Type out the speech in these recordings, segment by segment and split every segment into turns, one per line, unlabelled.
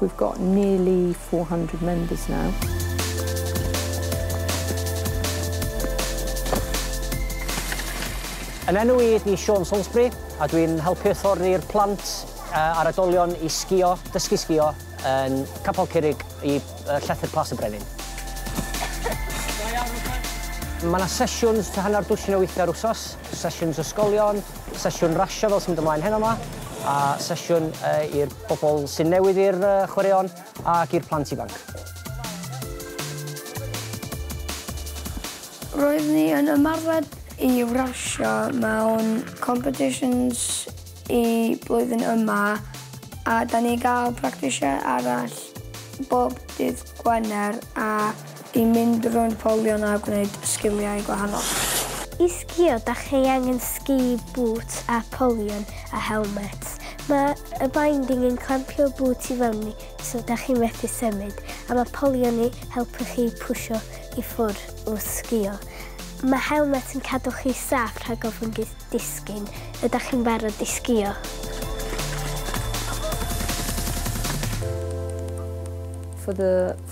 We've got nearly four hundred members now.
Yn enw i ydi Siôn Salisbury a dwi'n helpu hyfforddi'r plant a'r oedolion i sgïo, dysgu sgïo yn Capel Curig i Llethr Plas y Brenin. Mae yna sesiwns tua hanner dwsin o weithiau yr wsos, sesiwns ysgolion, sesiwn rasio fel sy'n mynd ymlaen heno 'ma, a sesiwn i'r Pobl sy'n newydd i'r chwaraeon ac i'r plant ifanc.
Roedd ni yn ymarfer i rasio mewn competitions y blwyddyn yma a da ni'n gael practisiau arall bob dydd Gwener a I mynd rownd polion a gwneud sgiliau gwahanol. I sgïo
dach chi angen sgi bŵt a polion a helmet. Mae y binding yn clampio'r bŵt i fewni so dach chi methu symud a mae polion i helpu chi pwsio i ffwr wrth sgïo. Mae helmet yn cadw chi saff rhag ofn disgyn. Ydach chi'n barod i sgïo?
For the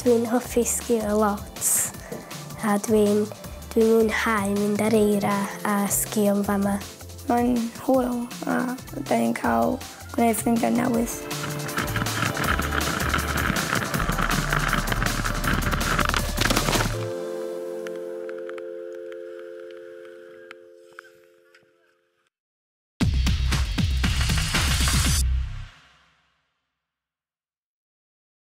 Dwi'n hoffi
sgïo lot a dwi'n dwi'n mwynhau mynd ar eira a sgïo yn fama. Mae'n
hwyl a 'dan ni'n cael gwneud
ffrindiau
newydd.